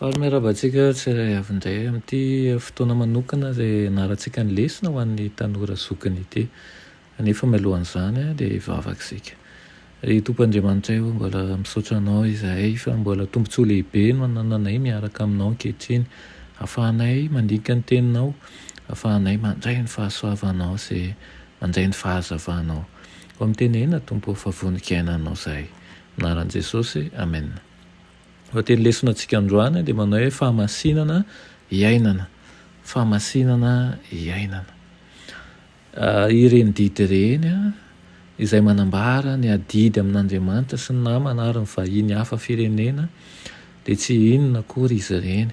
Faly miarahaba antsika tsirairay avy indray amin'ity fotoana manokana izay ianarantsika ny lesona ho an'ny tanora zokiny ity. Anefa mialohan'izany dia hivavaka isika. Ry Tompo Andriamanitray ô, mbola misaotra Anao izahay fa mbola tombontsoa lehibe no anananay miaraka aminao ankehitriny, ahafahanay mandinika ny Teninao, ahafahanay mandray ny fahasoavanao sy mandray ny fahazavanao. Koa mitenena Tompo ô fa vonon-kiainanao izahay. Amin'ny anaran'i Jesosy, Amena. Lohateny lesona antsika androany dia manao hoe fahamasinana iainana. Fahamasinana iainana. Ireny didy ireny izay manambara ny adidy amin'Andriamanitra sy ny namana ary ny vahiny hafa firenena dia tsy inona akory izy ireny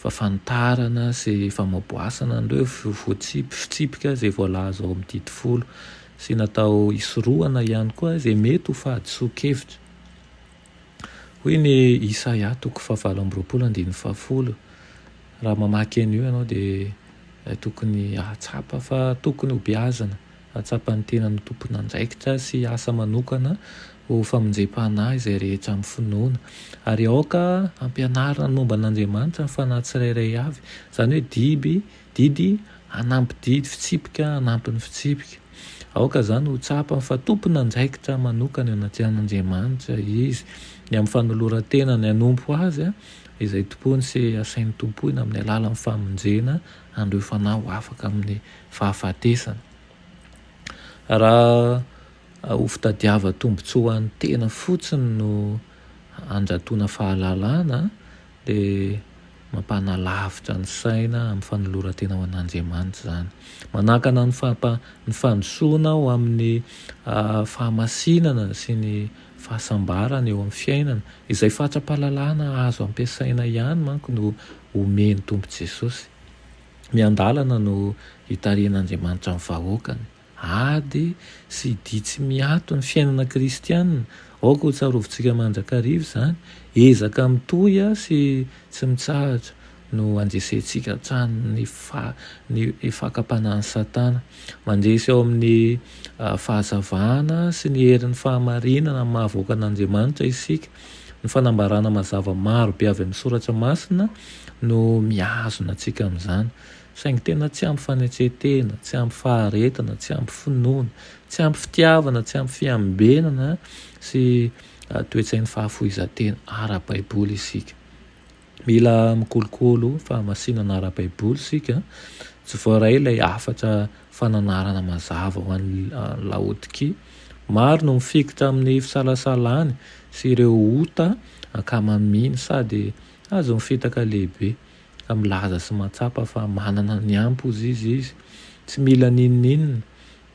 fa fanitarana sy famaboasana an'ireo voatsipy fitsipika izay voalaza ao amin'ny didy folo sy natao hisorohana ihany koa izay mety ho fahadisoan-kevitra. Hoy ny Isaia toko fahavalo amby roapolo andininy fahafolo, Raha mamaky an'io ianao dia tokony hahatsapa fa tokony hobeazina, hahatsapa ny tenany ho tompon'andraikitra sy hiasa manokana ho famonjem-panahy izay rehetra amin'ny finoana. Ary aoka hampianarina ny momba an'Andriamanitra ny fanahy tsirairay avy, izany hoe diby, Didy, Hanampy didy, fitsipika, hanampy ny fitsipika. Aoka izany ho tsapany fa tompon'andraikitra manokana eo anaty an'Andriamanitra izy, ny amin'ny fanoloran-tenany hanompo Azy izay tompoiny sy asainy tompoina amin'ny alalan'ny famonjena an'ireo fanahy ho afaka amin'ny fahafatesana. Raha ho fitadiava-tombontsoa ho an'ny tena fotsiny no handratoana fahalalana, dia mampanalavitra ny saina amin'ny fanoloran-tena ho an'Andriamanitra izany. Manakana ny fampa, ny fandrosoana ho amin'ny fahamasinana sy ny fahasambarana eo amin'ny fiainana. Izay fatra-pahalalana azo ampiasaina ihany manko no omen'ny Tompo Jesosy. Miandalana no hitarihan'Andriamanitra ny vahoakany. Ady sy dia tsy miato ny fiainana kristiana, aoka ho tsarovintsika mandrakariva izany, ezaka mitohy sy tsy mitsahatra no andresentsika hatrany ny ny fakam-panahin'i Satana. Mandresy ao amin'ny fahazavana sy ny herin'ny fahamarinana amin'ny maha-vahoaka an'Andriamanitra isika. Ny fanambarana mazava maro be avy amin'ny Soratra Masina no mihazona antsika amin'izany. Saingy tena tsy ampy fanetren-tena, tsy ampy faharetana, tsy ampy finoana, tsy ampy fitiavana, tsy ampy fiambenana sy toe-tsain'ny fahafoizan-tena ara-baiboly isika. Mila mikolokolo fahamasinana ara-baiboly isika. Tsy voaray ilay hafatra fananarana mazava ho an'i Laodikia. Maro no mifikitra amin'ny fisalasalany sy ireo ota ankamaminy sady azon'ny fitaka lehibe. ka milaza sy mahatsapa fa manana ny ampz izy izy tsy mila n'inon'inona,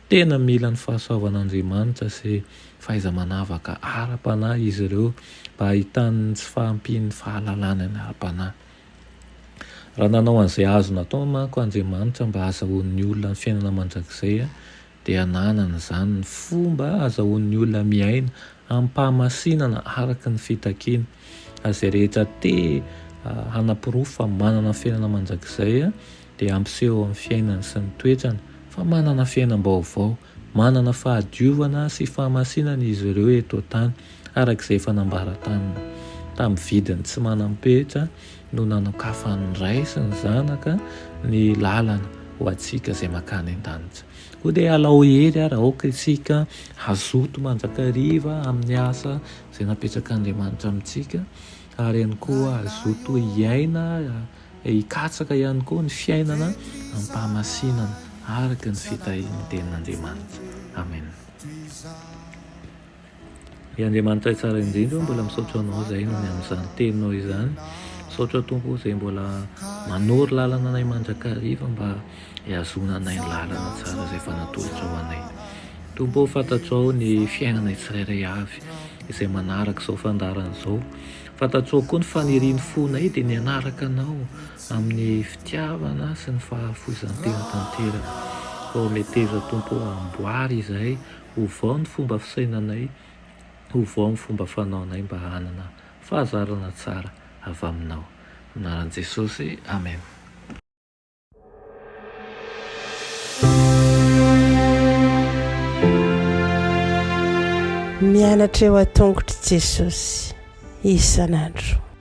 tena mila ny fahasoavan'Andriamanitra sy fahaiza-manavaka ara-panahy izy ireo mba hahitany ny tsy fahampian'ny fahalalany any ara-panahy. Raha nanao an'izay azony atao manko Andriamanitra mba hahazahoan'ny olona ny fiainana mandrakizay dia ananany izany ny fomba azahoan'ny olona miaina amim-pahamasinana araka ny fitakiany. Izay rehetra te hanaporofo fa manana fiainana mandrakizay dia hampiseho amin'ny fiainany sy ny toetrany fa manana fiainam-baovao, manana fahadiovana sy fahamasinana izy ireo eto an-tany, araka izay efa nambara taminy, tamin'ny vidiny tsy manam-petra no nanokafan'ny Ray sy ny Zanaka ny lalana ho antsika izay mankany an-danitra. Koa dia alao hery ary aoka isika hazoto mandrakariva amin'ny asa izay napetrak'Andriamanitra amintsika ary ihany koa hazoto hiaina, hikatsaka ihany koa ny fiainana amim-pahamasinana araka ny fitahian'ny Tenin'Andriamanitra. Amen. Ry Andriamanitray tsara indrindra ô mbola misaotra anao zahay noho ny amin'izany teninao izany misaotra Tompo ô zay mbola manoro lalana anay mandrakariva mba hiazona anay ny lalana tsara zay efa natolotrao ho anay Tompo ô fantatrao ny fiainanay tsirairay avy izay manaraka izao fandaharana izao fantatrao koa ny fanirian'ny fonay dia ny hanaraka anao amin'ny fitiavana sy ny fahafoizan-tena tanteraka ô meteza Tompo ô amboary izahay Ovao ny fomba fisainanay, ovao ny fomba fanaonay mba hanana fahazarana tsara avy Aminao. Amin'ny anaran'i Jesosy, Amen. Mianatra eo an-tongotr'i Jesosy isan'andro.